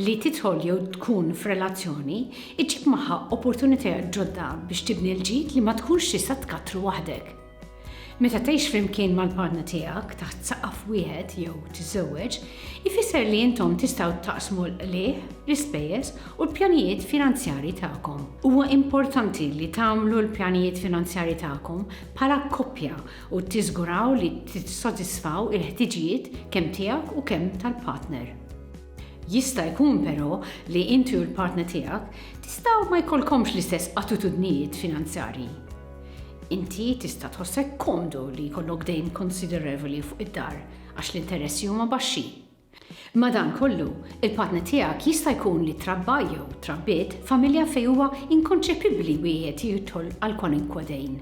li titħol jew tkun f'relazzjoni iġib magħha opportunitajiet ġodda biex tibni l-ġid li ma tkunx tista' tkattru waħdek. Meta tgħix flimkien mal-partner tiegħek taħt saqaf wieħed jew tiżżewweġ, ifisser li intom tistgħu taqsmu l-qligħ, l-ispejjeż u l-pjanijiet finanzjarji tagħkom. Huwa importanti li tagħmlu l-pjanijiet finanzjarji tagħkom bħala koppja u tiżguraw li tissodisfaw il-ħtiġijiet kemm tiegħek u kemm tal-partner. Jista' jkun però li inti u l-partner tiegħek tistgħu ma jkollkomx l-istess attitudnijiet finanzjarji. Inti tista' tħossek komdu li jkollok dejn konsiderevoli fuq id-dar għax l-interessi huma baxxi. Madankollu, il-partner tiegħek jista' jkun li trabba jew trabbiet familja fejn huwa inkonċepibbli wieħed jidħol għal kwalunkwe dejn.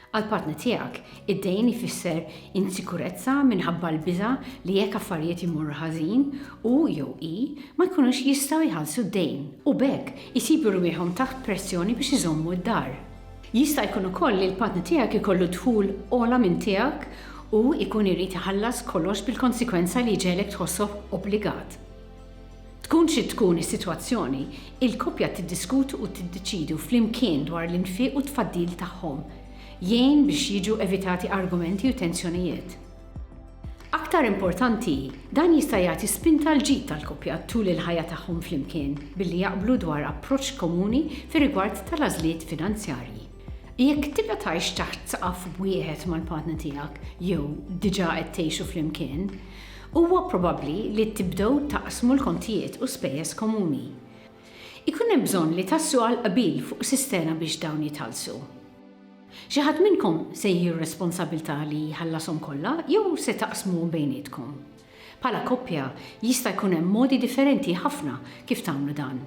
Għall-partner tiegħek, id-dejn ifisser insikurezza minħabba l-biża' li jekk affarijiet imorru ħażin, hu jew hi ma jkunux jistgħu jħallsu d-dejn u b'hekk isibu rwieħhom taħt pressjoni biex iżommu d-dar. Jista' jkun ukoll li l-partner tiegħek ikollu dħul ogħla minn tiegħek u jkun irid iħallas kollox bil-konsekwenza li jġegħlek tħossoh obbligat. Tkun xi tkun is-sitwazzjoni, il-koppja tiddiskutu u tiddeċidu flimkien dwar l-infiq u t-tfaddil tagħhom jgħin biex jiġu evitati argumenti u tensjonijiet. Aktar importanti, dan jista' jagħti spinta l-ġid tal-koppja tul il-ħajja tagħhom flimkien billi jaqblu dwar approċċ komuni fir-rigward tal-għażliet finanzjarji. Jekk tibqa' tgħix taħt saqaf wieħed mal-partner tiegħek jew diġà qed tgħixu flimkien, huwa probabbli li tibdew taqsmu l-kontijiet u spejjeż komuni. Ikun hemm bżonn li taslu għal qbil fuq sistena biex dawn jitħallsu. Xi ħadd minnkom se jieħi r-responsabbiltà li jħallashom kollha jew se taqsmuhom bejnietkom? Bħala koppja, jista' jkun hemm modi differenti ħafna kif tagħmlu dan.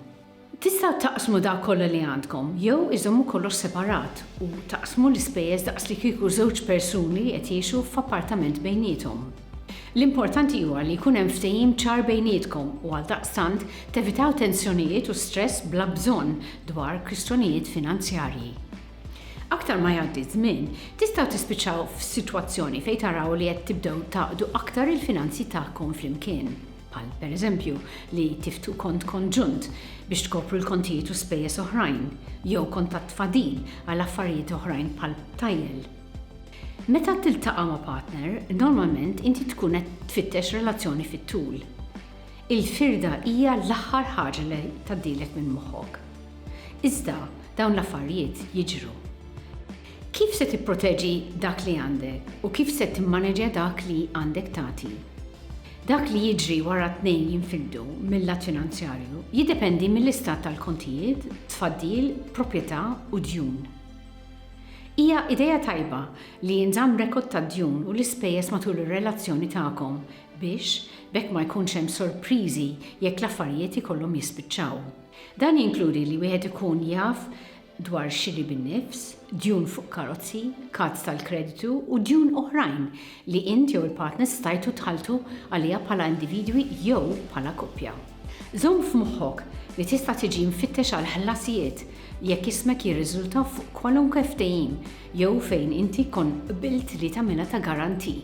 Tistgħu taqsmu dak kollha li għandkom jew iżommu kollox separat u taqsmu l-ispejjeż daqs li kieku żewġ persuni qed jgħixu f'appartament bejniethom. L-importanti huwa li jkun hemm ftehim ċar bejnietkom u għaldaqstant tevitaw tensjonijiet u stress bla bżonn dwar kwistjonijiet finanzjarji. Aktar ma jgħaddi ż-żmien, tistgħu tispiċċaw f'sitwazzjoni fejn taraw li qed tibdew tgħaqqdu aktar il-finanzi tagħkom flimkien, bħal pereżempju li tiftu kont konġunt biex tkopru l-kontijiet u spejjeż oħrajn, jew kont ta' tfadil għal affarijiet oħrajn bħal btajjel. Meta tiltaqa' ma' partner, normalment inti tkun qed tfittex relazzjoni fit-tul. Il-firda hija l-aħħar ħaġa li tgħaddilek minn moħħok. Iżda dawn l-affarijiet jiġru. Kif se tipproteġi dak li għandek u kif se timmaneġja dak li għandek tagħti? Dak li jiġri wara t-tnejn jinfildu mill-lat finanzjarju jiddependi mill-istat tal-kontijiet, tfaddil, proprjetà u djun. Hija idea tajba li jinżamm rekord tad-djun u l-ispejjeż matul ir-relazzjoni tagħkom biex b'hekk ma jkunx hemm sorpriżi jekk l-affarijiet ikollhom jispiċċaw. Dan jinkludi li wieħed ikun jaf dwar xiri bin-nifs, djun fuq karozzi, kards tal-kreditu u djun oħrajn li int jew il-partner stajtu tħalltu għaliha bħala individwi jew bħala koppja. Żomm f'moħħok li tista' tiġi mfittex għal ħlasijiet jekk ismek jirriżulta fuq kwalunkwe ftehim jew fejn inti tkun qbilt li tagħmilha ta' garanti.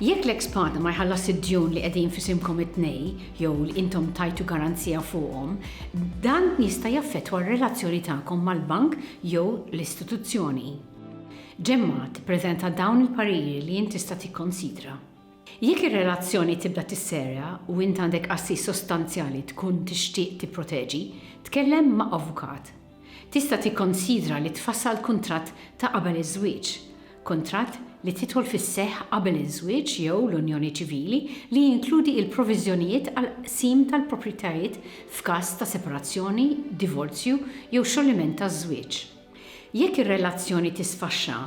Jekk l-eks partner ma jħallasx id-djun li qegħdin f'isimkom it-tnej jew li intom tajtu garanzija fuqhom, dan jista' jaffettwa r-relazzjoni tagħkom mal-bank jew l-istituzzjoni. Ġemma tippreżenta dawn il-pariri li int tista' tikkonsidra. Jekk ir-relazzjoni tibda tisserja u int għandek assi sostanzjali tkun tixtieq tipproteġi, tkellem ma' avukat. Tista' tikkonsidra li tfassal kuntratt ta' qabel iż-żwieġ, kuntratt li tidħol fis-seħħ qabel iż-żwieġ jew l-unjoni ċivili li jinkludi l-proviżjonijiet għall-qsim tal-proprjetajiet f'każ ta' separazzjoni, divorzju jew xolliment taż-żwieġ. Jekk ir-relazzjoni tisfaxxa,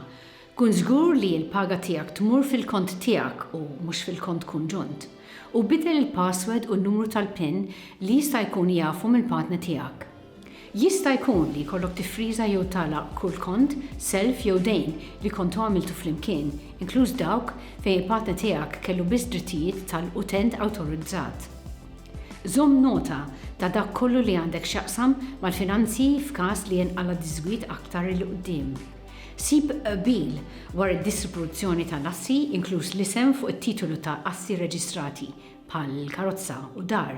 kun żgur li l-paga tiegħek tmur fil-kont tiegħek u mhux fil-kont konġunt, u biddel il-password u n-numru tal-pin li jista' jkun jafu mill-partner tiegħek. Jista' jkun li jkollok tiffriża jew tagħlaq kull kont, self jew dejn li kontu għamiltu flimkien, inkluż dawk fejn il-partner tiegħek kellu biss drittijiet tal-utent awtorizzat. Żomm nota ta' dak kollu li għandek x'jaqsam mal-finanzji f'każ li jinqala' diżgwid aktar 'il quddiem. Sib qbil dwar id-distribuzzjoni tal-assi, inkluż l-isem fuq it-titolu ta' assi reġistrati, bħal karozza u dar,